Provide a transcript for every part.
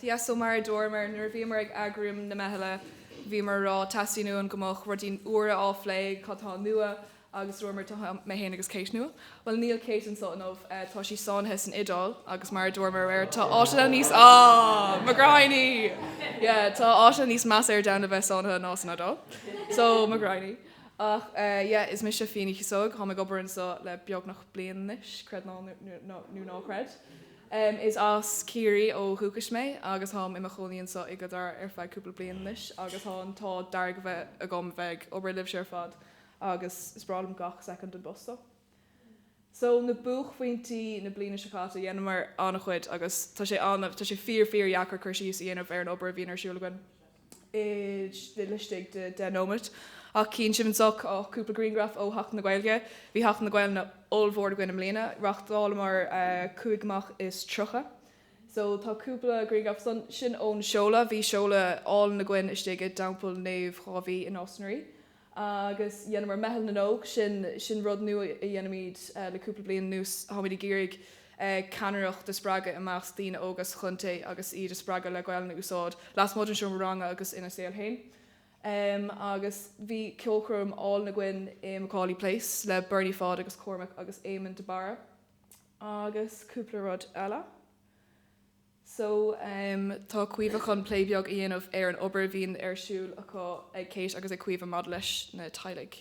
So mar a dúramar nuair a bhíomar ag eagrú na meithle, bhíomar a rá, teastaíonn uainn go mbeadh rudaí úra á phlé, cad tá nua agus dúramar tá mé féin agus Kate nua, bhuel níl Kate anseo inniu, tá sí sáinnithe san Iodáil agus mar a dúramar aréir tá áiteanna níos, ah, mo ghraidhn-í! yeah, tá áiteanna níos measa ar domhan le bheith sáinnithe ná san Iodáil. So, mo ghraidhn-í. Ach, eh, yeah, is mise Fionn Ó Cíosóig, táim ag obair anseo le beagnach bliain anois, creid nó ná creid. Is as Ciarraí ó dhúchas mé agus táim i mo chónaí anseo i gCill Dara ar feadh cúpla bliain anois agus tá an t-ádh dearg a bheith agam a bheith ag obair libhse ar fad agus is breá liom gach soicind den phost seo. So, na buaicphointí na bliana seo caite, dheineamar an-chuid agus tá sé an-, tá sé fíor, fíordheacair cur síos a dhéanamh ar an obair a bhíonn ar siúl againn. laistigh de deich nóiméad. Ach chíonn sibh anso cúpla grianghraf ó Sheachtain na Gaeilge. Bhí Seachtain na Gaelainne ollmhór againn i mbliana. Reáchtálamar cúig imeacht is tríocha. So tá cúpla grianghraf ansan. Sin ón seoladh. Bhí seoladh álainn againn istigh i dTeampall Naomh Dháiví i Nás na Ríogh. Agus dheineamar Meitheal na nÓg, sin sin rud nua a dhéanaimid le cúpla bliain anuas, táimid ag iarraidh ceannaireacht a spreagadh i measc daoine óga sa chontae agus iad a spreagadh le Gaelainn a úsáid lasmuigh den seomra ranga agus ina saol féin. Agus bhí ceolchoirm álainn againn i McAuley Place le Bernie Pháid agus Cormac agus Éamonn de Barra agus cúpla rud eile. So, tá Caoimhe chun plé beag a dhéanamh ar an obair a bhíonn ar siúl acu, ag Kate agus ag Caoimhe, maidir leis na teaghlaigh.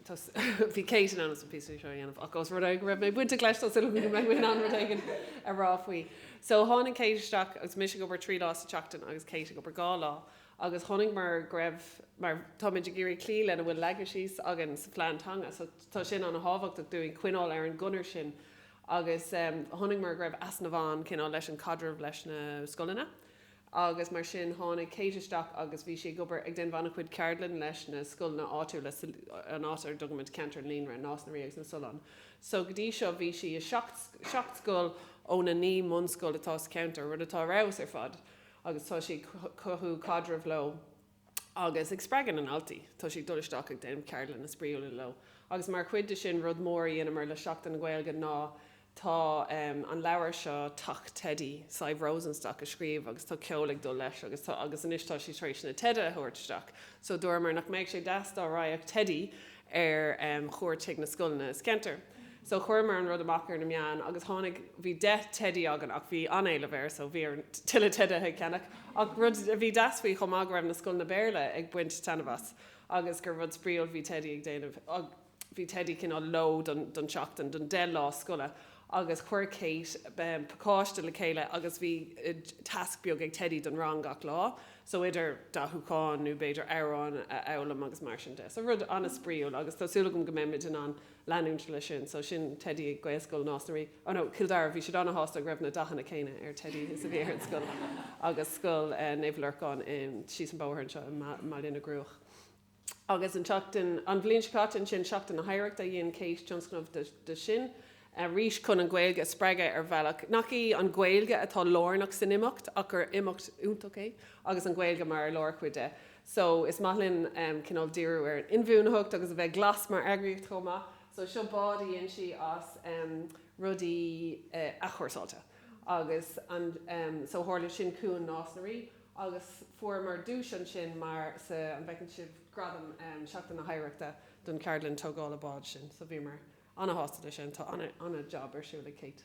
Tá so, bhí Kate chun an píosa seo a dhéanamh ach os rud é go raibh mé bainteach leis, tá súil agam go mbeidh mé in ann rud éigin a rá faoi. So, tháinig Kate isteach agus mise ag obair trí lá sa tseachtain agus Kate ag obair dhá lá agus chonaiceamar go raibh, mar táimid ag iarraidh cloí lena bhfuil leagtha síos againn sa phlean teanga, so tá sin an-thábhachtach dúinn coinneáil ar an gconair sin Agus chonaiceamar go raibh easnamh ann cineál leis an chaidreamh leis na scoileanna. Agus mar sin tháinig Kate isteach agus bhí sí ag obair, ag déanamh an-chuid ceardlanna leis na scoileanna áitiúla sa, an áit ar a dtugaimid Ceantar an Líonra, Nás na Ríogh agus na Solláin. So go dtí seo bhí sí i seacht, seacht scoil ó na naoi mbunscoil atá sa cheantar, rud atá ar fheabhas ar fad. Agus tá sí ag cothú caidrimh leo. agus ag spreagadh na ndaltaí. Tá sí ag dul isteach ag déanamh ceardlanna spraíúla leo. Agus mar chuid de sin, rud mór a dheineamar le Seachtain na Gaeilge ná tá an leabhar seo, Teach Teidí, Sadhbh Rosenstock a scríobh agus tá ceol ag dul leis agus tá agus anois tá sí tar éis na teidí a thabhairt isteach. So dúramar nach mbeadh sé deas dá raghadh teidí ar chuairt chuig na scoileanna sa cheantar so chuireamar an rud amach ar na meáin agus tháinig bhí deich teidí againn ach bhí an-éileamh air so bhí orainn tuilleadh teidithe ag ceannach ach rud a bhí deas faoi chomh maith go raibh na scoileanna Béarla ag baint taitneamh as agus gur rud spraíúil bhí teidí ag déanamh bhí teidí cineál leo don tseachtain don deich lá scoile agus chuir Kate pacáiste le chéile agus bhí tasc beag ag teidí don rang gach lá so idir dathúchán nó b'fhéidir amhráin a fhoghlaim agus mar sin de. So rud an-spraíúil agus tá súil agam go mbeimid in ann leanúint leis sin. So sin teidí ag Gaelscoil Nás na Rí, oh no, Cill Dara, bhí siad an-shásta go raibh na dathanna céanna ar teidí is a bhí ar éide na scoile agus scoil Naomh Lorcán síos an bóthar anseo i mBaile na gCruach. Agus an tseachtain, an bhliain seo caite, ansin, Seachtain na hOidhreachta, dhein Kate tionscnamh de sin arís chun an Ghaeilge a spreagadh ar bhealach nach í an Ghaeilge atá lárnach san imeacht ach gur imeacht iontach é agus an Ghaeilge mar lárchuid de. So, is maith linn cineál díriú ar an inbhuanaitheacht agus a bheith glas mar eagraíocht chomh maith. So, seo bád a dhein sí as rudaí athchúrsáilte. Agus an, so, tharla sin i gCuan Nás na Ríogh. agus fuaireamar duais ansin mar, sea, an bhfeiceann sibh, gradam Seachtain na hOidhreachta don ceardlann tógála báid sin, so bhíomar ana-shásta leis sin, tá ana-jab ar siúl ag Kate,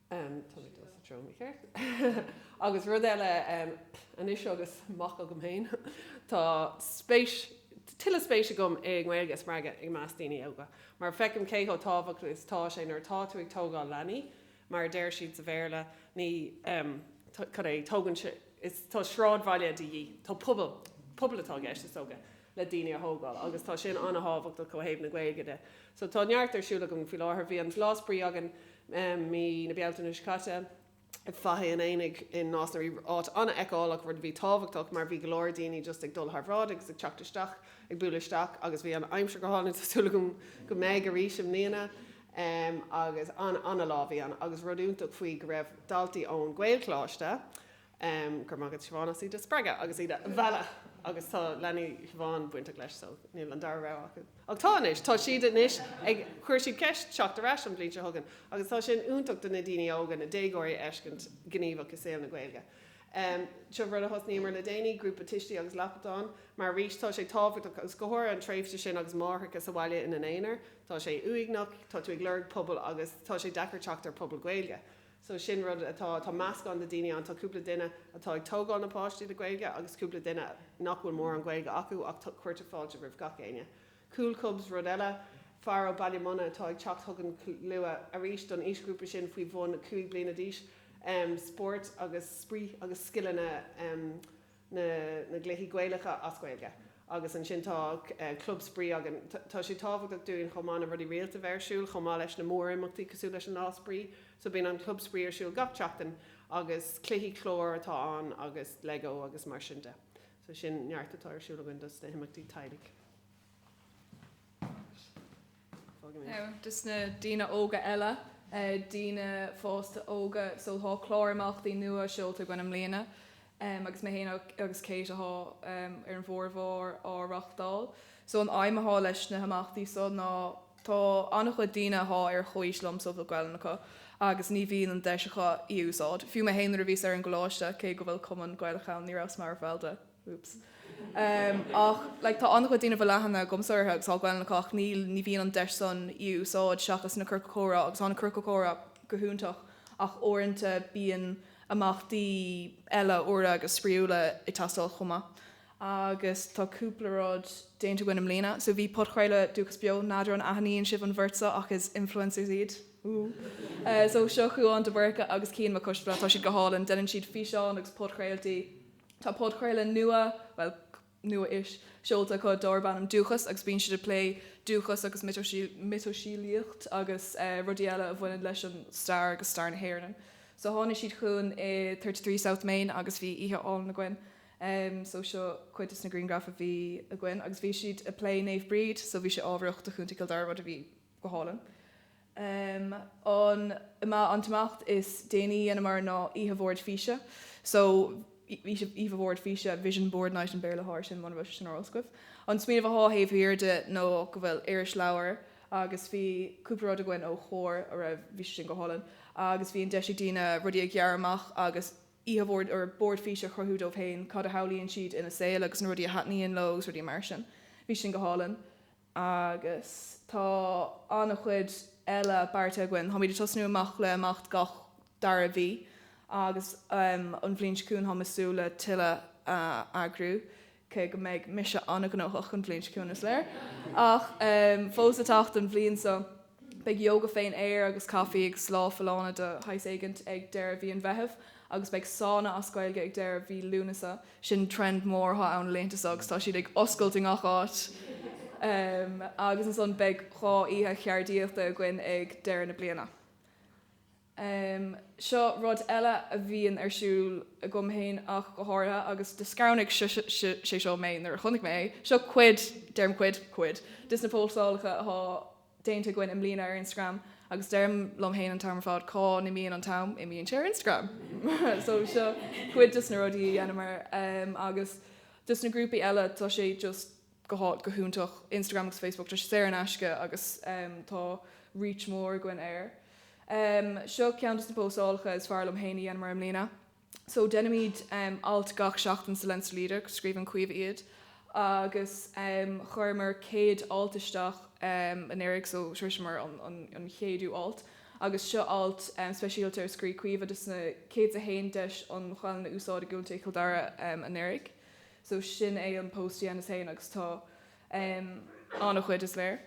tá mé ag dul sa treo mícheart, agus rud eile anois agus mac agam féin, tá spéis, tuilleadh spéis agam i nGaeilge a spreagadh i measc daoine óga, mar feicim cé chomh tábhachtach is atá sé nuair atá tú ag tógáil leanaí, Mar a deir siad sa Bhéarla, ní, em, cad é, tógann sé, is, tá sráidbhaile de dhíth, tá pobal, pobal atá i gceist, is dócha, le daoine a thógáil agus tá sin an-tábhachtach ó thaobh na Gaeilge de. So tá neart ar siúl againn faoi láthair. Bhí an Lá Spraoi againn, em, mí na Bealtaine seo caite, ag Faiche an Aonaigh i Nás na Rí, áit an-fheiceálach, rud a bhí tábhachtach mar bhí go leor daoine just ag dul thar bhráid agus ag teacht isteach, ag bualadh isteach agus bhí an aimsir go hálainn, tá súil agam go mbeidh arís i mbliana. Um, agus ana, ana lá a bhí ann, agus rud iontach faoi go raibh daltaí ón Ghaelcholáiste, um, go raibh maith agat Siobhán as iad a spreagadh agus iad a mhealladh agus tá leanaí Siobhán bainteach leis so níl an dara rogha acu. Ach tá anois, tá siad anois ag, chuir siad ceist teacht ar ais an bhliain seo chugainn agus tá sin iontach do na daoine óga, na déagóirí a fheiscint gníomhach i saol na Gaeilge. Um, seo rud a thosnaíomar le déanaí, grúpa tuistí agus lapadán, mar arís tá sé tábhachtach agus go háirithe an tréimhse sin agus máithreacha sa bhaile ina n-aonar, Tá sé uaigneach, tá tú ag lorg pobail agus tá sé deacair teacht ar pobal Gaeilge. So sin rud atá, tá meascán de daoine ann, tá cúpla duine atá ag tógáil na páistí le Gaeilge agus cúpla duine nach bhfuil mórán Gaeilge acu ach cuirtear fáilte roimh gach éinne. Cúl Cubs rud eile, fear ó Baile Munna atá ag teacht chugainn go luath arís don aoisghrúpa sin faoi bhun 5 bliana d'aois, spórt agus spraoi agus scileanna. na na gcluichí Gaelacha as Gaeilge agus ansin tá club spraoi againn. Tá sé tábhachtach dúinn chomh maith na rudaí rialta bheith ar siúl chomh maith leis na mór-imeachtaí cosúil leis an lá spraoi. So bíonn an club spraoi ar siúl gach tseachtain agus cluichí cláir atá ann agus lego agus mar sin de. So sin neart atá ar siúl againn dos na himeachtaí teaghlaigh. Dos na daoine óga eile, daoine fásta óga, so tá clár imeachtaí nua seolta againn i mbliana agus mé féin agus Cáit atá ar an bhformhór á reáchtáil. So an aidhm atá leis na himeachtaí so ná, tá an-chuid daoine atá ar chomhaois liom go bhfuil Gaolainn acu agus ní bhíonn an deis acu í a úsáid. Fiú mé féin nuair a bhíos ar an gcoláiste, cé go bhfuil cumann Gaelach ann, ní rabhas mar bhall de. Ach like tá an-chuid daoine go bhfuil aithne agamsa orthu agus tá Gaelainn acu ach ní bhíonn an deis san í a úsáid seachas na Ciorcail Comhrá agus tá na Ciorcail Comhrá go hiontach ach uaireanta bíonn imeachtaí eile úra agus spraíúla ag teastáil chomh maith agus tá cúpla rud déanta againn i mbliana so bhí podchraoladh Dúchas beo n'fheadar an aithníonn sibh an bheirt seo ach is influencers iad so seo Cuán de Búrca agus Cian Mac Coisdealbha tá siad go hálainn deineann siad físeáin agus podchraoltaí Tá podchraoladh nua, bhuel, nua-ish, seolta acu dárb ainm Dúchas agus bíonn siad ag plé dúchas agus miotaseolaíocht agus rudaí eile a bhaineann leis an stair agus stair na hÉireann. So tháinig siad chugainn i thirty three South Main agus bhí oíche álainn againn. So seo cuid de na grianghraif a bhí againn agus bhí siad ag plé Naomh Bríd so bhí sé ábharach do Chontae Chill Dara rud a bhí Go hálainn. An t-imeacht is déanaí a dheineamar ná oíche bhoird físe, so oíche bhoird físe, vision board night an Béarla air sin, mura raibh sé sin ar eolas agaibh. An smaoineamh atá taobh thiar de ná go bhfuil irisleabhar agus bhí cúpla rud againn ó Chomhar a raibh, bhí sé sin go hálainn agus bhí an deis ag daoine rudaí a ghearradh amach agus oíche bhoird or bord físe a chruthú dóibh féin, cad a shamhlaíonn siad ina saol agus na rudaí a thaitníonn leo agus rudaí mar sin. Bhí sin go hálainn. Agus tá an-chuid eile beartaithe againn. Táimid ag tosnú amach le imeacht gach dara mhí agus an bhliain seo chugainn táim ag súil le tuilleadh a eagrú, cé go mbeidh mise an-ghnóthach an bhliain seo chugainn, is léir! Ach fós le teacht an bhliain seo. Beidh yoga fén aer agus caifí agus lá folláine de shaghas éigint ag deireadh mhí an Mheithimh agus beidh sána as Gaeilge ag deireadh mhí Lúnasa. Sin trend mór atá ann na laethanta so agus tá siad ag oscailt i ngach áit. Agus ansan beidh dhá oíche cheardaíochta againn ag deireadh na bliana. Um seo rud eile a bhíonn ar siúl, agam féin ach go háirithe, agus do scanraigh sé seo mé nuair a chonaic mé é. Seo cuid, deirim cuid, cuid des na postálacha athá déanta againn i mbliana ar Instagram, agus deirim liom fhéin an t-am ar fad, cá n-imíonn an t-am? Imíonn sé ar Instagram! So seo cuid des na rudaí a dheineamar. Um agus des na grúpaí eile, tá sé just go hot, go hiontach, Instagram agus Facebook, tá sé saor in aisce agus tá reach mór againn air. Seo ceann dos na postálacha is fearr liom fhéin a dheineamar i mbliana. So deinimid alt gach seachtain sa Leinster Leader, scríobhann Caoimhe iad, agus chuireamar céad alt isteach anuraidh so shroiseamar an chéadú alt agus seo alt speisialta ar scrígh Caoimhe dos na céad 's a haon deis an Ghaelainn a úsáid i gContae Chill Dara anuraidh. So sin é an post a dheineas fhéin agus tá an-chuid, is léir.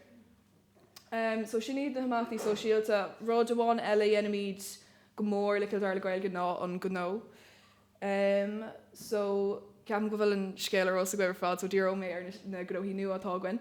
So sin iad na himeachtaí sóisialta. Rud amháin eile a dheinimid go mór le Cill Dara le Gaeilge ná an gnó. So ceapaim go bhfuil an scéal ar eolas agaibh ar fad so díreoidh mé ar na gnóthaí nua atá againn.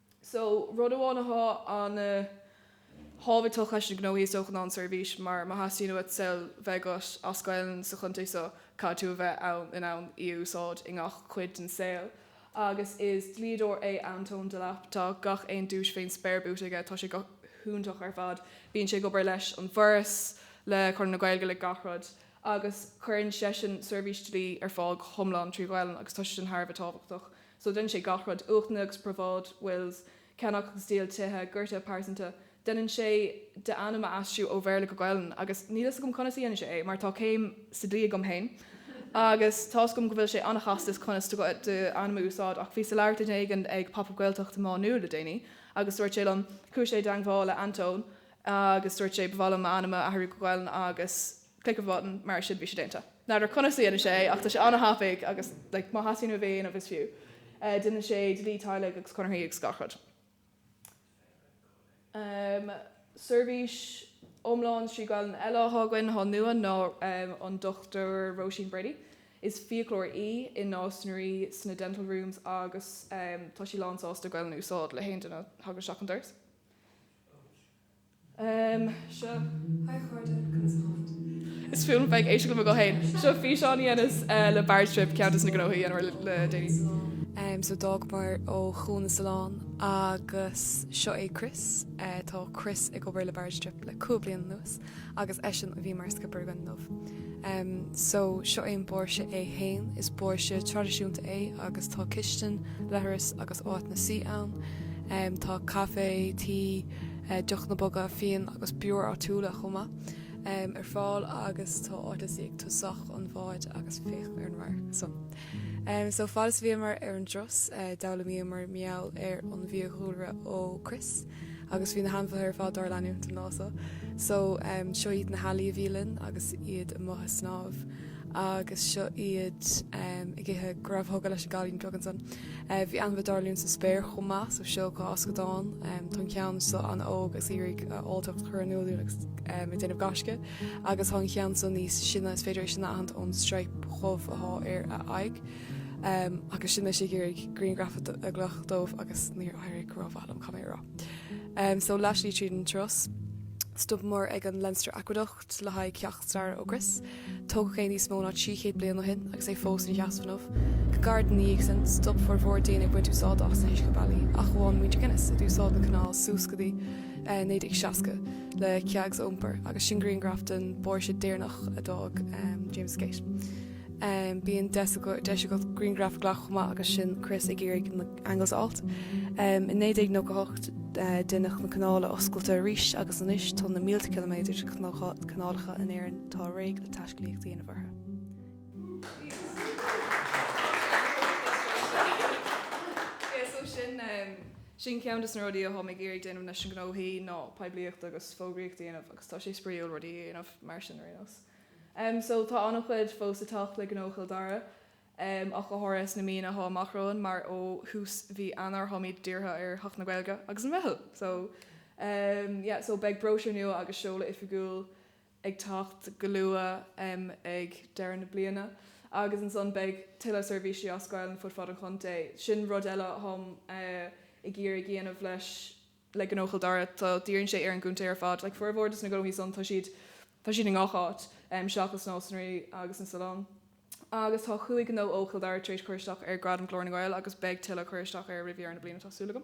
So, rud amháin atá an-thábhachtach leis na gnóthaí is dócha ná an seirbhís, mar má theastaíonn uait saol bheith agat as Gaelainn sa chontae seo, caithfidh tú a bheith in ann í a úsáid i ngach cuid den saol. Agus is dlíodóir é Antóin Delap, tá gach aon duais fén spéir buaite aige, tá sé go hiontach ar fad, bíonn sé ag obair leis an bhForas, le Conradh na Gaeilge, le gach rud. Agus cuireann seisean seirbhís dlí ar fáil go hiomlán trí Ghaelainn agus tá sé sin thar a bheith tábhachtach So deineann sé gach rud, uachtanna agus probháid, wills, ceannach agus díol tithe, gortuithe pearsanta. Deineann sé d'ainm a aistriú ó Bhéarla go Gaelainn agus níl fhios agam conas a dhéanann sé é mar tá céim sa dlí agam féin agus tá fhios agam go bhfuil sé an-chasta is conas d'ainm a úsáid ach bhíos ag labhairt le duine éigin ag Pop Up Gaeltacht i Má Nuad le déanaí agus dúirt sé liom, chuaigh sé i dteangmháil le Antóin agus dúirt sé ba mhaith liom m'ainm a athrú go Gaelainn agus. click of a button, mar sin bhí sé déanta. N'fheadar conas a dhéanann sé é ach tá sé an-thapaidh agus like má theastaíonn uaibh é a dhéanamh is fiú. Déanann sé dlí teaghlaigh agus conarthaí agus gach rud. Um seirbhís iomlán trí Ghaelainn eile atá againn, atá nua, ná um an Dr Róisín Brady. Is fiaclóir í i Nás na Ríogh sna dental rooms agus um tá sí lán sásta Gaelainn a úsáid le haon duine a thagann isteach an doras. Is fuath liom bheith ag éisteacht le mo ghuth féin. Seo físeán a dheineas le Barge Trip, ceann des na gnóthaí a dheineamar le déanaí. So d'fhágamar ó chuan na Sollán agus seo é Chris. Tá Chris ag obair le Barge Trip le cúig bliana anuas. agus eisean a bhí mar scipéir againn inniu. So, seo é an báirse é fhéin. Is báirse traidisiúnta é agus tá cistin, leithreas agus áiteanna suí ann. Tá caife, tae, deochanna boga, fíon agus beoir áitiúla chomh maith ar fáil agus tá áit le suí ag tosach an bháid agus féach ar an radharc san. So, fad is a bhíomar ar an dturas, d'fhoghlaimíomar meall ar an bhfiadhúlra ó Chris. agus bhí na hainmhithe ar fad dár leanúint an lá so. So, seo iad na healaí a bhí linn agus iad amuigh ag snámh agus seo iad ag ithe go raibh thógtha leis an gcailín beag ansan. Bhí ainmhithe dár leanúint sa spéir chomh maith so seo corr scadán tá an ceann so an-óg agus é ag iarraidh a áilleacht a chur in iúl dúinn ag déanamh gaisce agus tá an ceann so níos sine is féidir é sin a aithint ón stripe dhubh athá ar a aghaidh. Agus sin mé ag iarraidh grianghraf a ghlacadh dóibh agus níor éirigh rómhaith liom caithfidh mé a rá. So leathshlí tríd an turas. Stopamar ag an Leinster Aqueduct le haghaidh ceacht staire ó Chris. Tógadh é níos mó ná trí chéad bliain ó shin agus é fós ina sheasamh inniu. Go gairid ina dhiaidh sin, stop formhór daoine ag baint úsáid as na huiscebealaí, ach amháin muintir Guinness, a d'úsáid na canáil suas go dtí 1960 le kegs a iompar, agus sin grianghraf den bháirse deireanach a d'fhág James Gate. Bíonn deis agat grianghraf a ghlacadh chomh maith agus sin Chris ag iarraidh na angles a fháilt. In 1998 deineadh na canála oscailte arís agus anois tá na mílte ciliméadar de chanálacha in Éirinn atá réidh le taiscéalaíocht a dhéanamh orthu. Sin ceann des na rudaí atáim ag iarraidh a dhéanamh leis na gnóthaí ná poiblíocht agus fógraíocht a dhéanamh agus tá sé spraíúil rudaí a dhéanamh mar sin ar aon nós. So tá an-chuid fós ag teacht le gnó Chill Dara, ach go háirithe sna míonna atá amach romhainn, mar ó thús mhí Eanáir táimid dírithe ar Theach na Gaeilge agus an Mheitheal! So yeah, so beidh bróisiúr nua agus seoladh oifigiúil ag teacht go luath ag deireadh na bliana agus ansan beidh tuilleadh seirbhísí á scaoileadh ar fud fad an chontae. Sin rud eile atáim ag iarraidh a dhéanamh leis an. le gnó Chill Dara, tá, dírionn sé ar an gcontae ar fad, like, formhór des na gnóthaí san, tá siad, tá siad i ngach áit, um, seachas Nás na Ríogh agus na Solláin. Agus tá cúig gnó ó Chill Dara tar éis cur isteach ar Ghradam Ghlór na nGael agus beidh tuilleadh ag cur isteach air roimh dheireadh na bliana tá súil agam.